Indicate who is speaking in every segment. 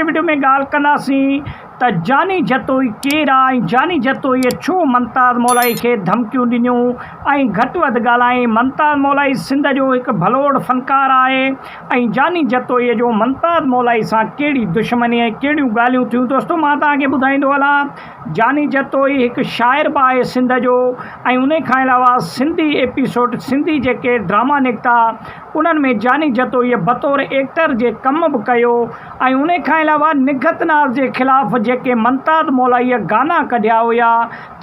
Speaker 1: Video ۾ ڳالهه ڪنداسين ته جاني جتوئي ڪير آ ۽ جاني جتوئي ڇو ممتاز مولائي کي ڌمڪيون ڏنيون ۽ گهٽ وڌ ڳالهائين ممتاز مولائي سنڌ جو هڪ ڀلوڙ فنڪار آهي ۽ جاني جتوئي جو ممتاز مولائي سان ڪهڙي دشمني ۽ ڪهڙيون ڳالهيون ٿيون دوستو مان توهان کي ٻڌائيندو هلان جاني جتوئي هڪ شاعر به آهي سنڌ جو ۽ انهي کان علاوه سنڌي ايپيسوڊ سنڌي جيڪي ڊراما نڪتا انهن ۾ جاني جتوئيء بطور ايڪٽر جي ڪم به ڪيو ۽ انهي کان علاوه نگهت ناز جي خلاف جيڪي منتاد مولائيء گانا ڪڍيا هيا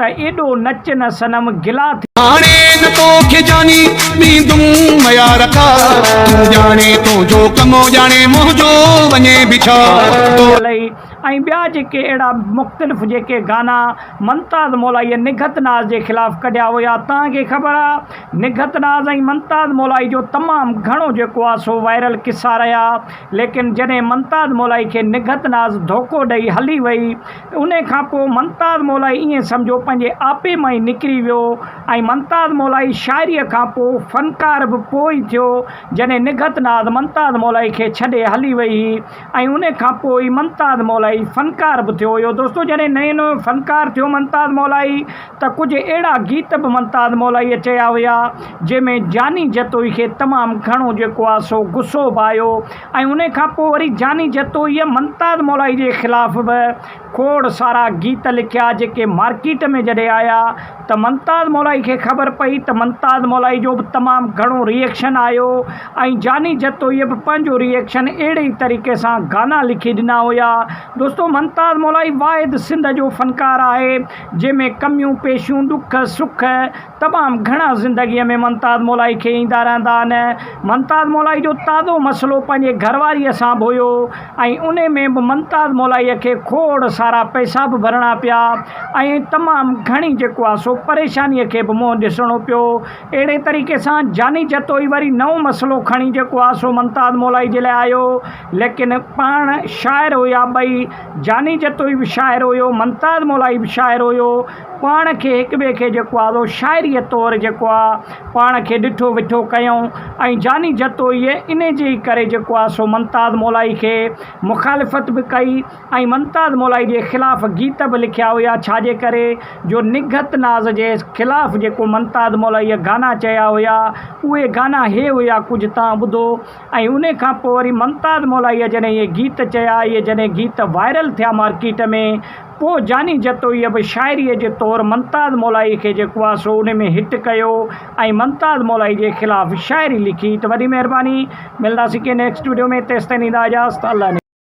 Speaker 1: ته ايڏو نچ نه صنم گلا ٿي هاڻي نه
Speaker 2: تو کي جاني ڏيندم ميار ڪا تون ڄاڻي تنهنجو ڪم ڄاڻي منهنجو وڃي به ڇا تو. علي ۽
Speaker 1: ٻيا جيڪي اهڙا مختلف جيڪي گانا منتاد مولائيء نگهت ناز جي خلاف ڪڍيا هيا توهان کي خبر آ نگهت ناز ۽ ممتاز مولائي جو تمام گهڻو جيڪو آ سو وائرل قصا رهيا ليڪن جڏهن ممتاز مولائي کي نگهت ناز ڌوڪو ڏئي هلي وئي انهي کان پوء ممتاز مولائي ائين سمجهو پنهنجي آپي مان ئي نڪري ويو ۽ ممتاز مولائي شاعري کان پوء فنڪار به پوء ئي ٿيو جڏهن نگهت ناز ممتاز مولائي کي ڇڏي هلي وئي هي ۽ ان کان پوء ئي ممتاز مولائي فنڪار به ٿيو هيو. دوستو جڏهن نئين نئون فنڪار ٿيو ممتاز مولائي ته ڪجهه اهڙا گيت به ممتاز مولائيء چيا هيا جنهن ۾ جاني جتوئي کي تمام گهڻو جيڪو آهي سو غصو به آيو ۽ ان کان پوء وري جاني جتوئيء ممتاز مولائي جي خلاف به کوڙ سارا گيت لکيا جيڪي مارڪيٽ ۾ جڏهن آيا ته ممتاز مولائي کي خبر پئي ته ممتاز مولائي جو به تمام گهڻو ري ايڪشن آيو ۽ جاني جتوئيء به پنهنجو ري ايڪشن اهڙي ئي طريقي سان گانا لکي ڏنا هيا دوستو ممتاز مولائي واحد سنڌ جو فنڪار آهي جنهن ۾ ڪميون پيشيون ڏک سک تمام گهڻا زندگيء ۾ ممتاز مولائي کي ايندا رهندا آهن. ممتاز مولائي جو تازو مسئلو پنهنجي گهر واريء سان به هيو ۽ انهي ۾ به ممتاز مولائيء کي کوڙ سارا پئسا به ڀرڻا پيا ۽ تمام گهڻي جيڪو آهي سو پريشانيء کي به منهن ڏسڻو پيو. اهڙي طريقي سان جاني جتوئي وري نئون مسئلو کڻي جيڪو آهي سو ممتاز مولائي جي لاء آيو. ليڪن پاڻ شاعر هيا ٻئي، جاني جتوئي به شاعر هيو، ممتاز مولائي به شاعر هيو. پاڻ کي هڪ ٻئي کي جيڪو آهي سو شاعريء طور جيڪو آهي پاڻ کي ڏٺو وٺو ڪيائون ۽ جاني جتوئيء ان جي ئي ڪري جيڪو آهي سو ممتاز مولائي کي مخالفت به ڪئي ۽ ممتاز مولائي جي خلاف گيت به لکيا هيا ڇا جي ڪري جو نگهت ناز جي خلاف جيڪو ممتاز مولائيء گانا چيا هيا اهي گانا هي هيا ڪجهه تان ٻڌو ۽ ان کان پوء وري ممتاز مولائيء جڏهن اهي گيت چيا اهي جڏهن گيت وائرل ٿيا مارڪيٽ ۾ پوء جاني جتوئيء به شاعريء جي طور ممتاز مولائيء کي جيڪو آهي سو انهي ۾ هٽ ڪيو ۽ ممتاز مولائيء جي خلاف شاعري لکي ته وڏي مهرباني. ملنداسين ڪنهن نيڪسٽ وڊيو ۾ تيستائين ڏيندا اجازت الله نگهبان.